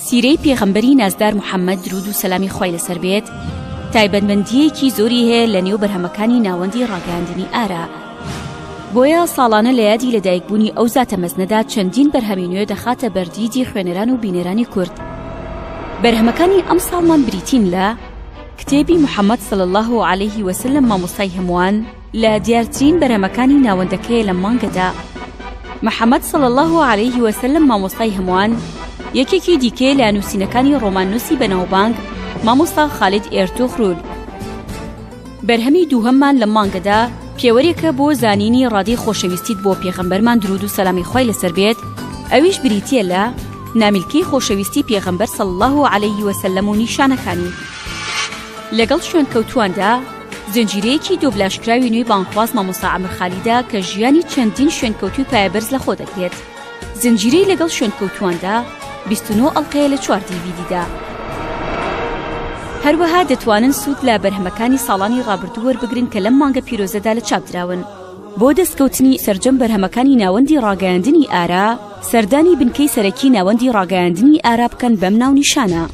سیرەی پێغەمبەری نازدار محەممەد درود و سەلامی خی لەسەر بێت تایبەتمەندیەکی زۆری هەیە لە نێو بەرهەمەکانی ناوەندی ڕاگەاندنی ئارا بۆیە ساڵانە لە یادی لەدایکبوونی ئەو زاتە مەزنەدا چەندین بەرهەمی نوێ دەخاتە بەردیدی خوێنەران و بینەرانی کورد بەرهەمەکانی ئەم ساڵمان بریتین لە کتێبی محەممەد سل الله عليه وسلم مامۆستای هەمووان لە دیارترین بەرهەمەکانی ناوەندەکەیە لەم مانگەدا محەممەد صلی الله عليه وسلم مامۆستای هەمووان یەکێکی دیکەیە لە نووسینەکانی ڕۆماننووسی بەناوبانگ مامۆستا خالید ئێرتوغرول بەرهەمی دووهەممان لە مانگەدا پێوەرێکە بۆ زانینی ڕادی خۆشەویستیت بۆ پێغەمبەرمان درود و سەلامی خی لەسەر بێت ئەویش بریتە لە نامیلکەی خۆشەویستی پێغەمبەر صلی الله عليه وسلم و نیشانەکانی لەگەڵ شوێنکەوتواندا زنجیرەیەکی دۆبلاژکراوی نوێی بانگخواز مامۆستا عەمر خالیدە کە ژیانی چەندین شوێنکەوتوی پایەبەرز لەخۆ دەگرێت زنجیرەی لەگەڵ شوێنکەوتواندا 29 ئەڵقەیە لە چوار دیڤیدیدا هەروەها دەتوانن سوود لە بەرهەمەکانی ساڵانی ڕابردوو وەربگرن کە لەم مانگە پیرۆزەدا لە چاپ دراون بۆ دەستکەوتنی سەرجەم بەرهەمەکانی ناوەندی ڕاگەیاندنی ئارا سەردانی بنکەی سەرەکی ناوەندی ڕاگەیاندنی ئارا بکەن بەم ناونیشانە.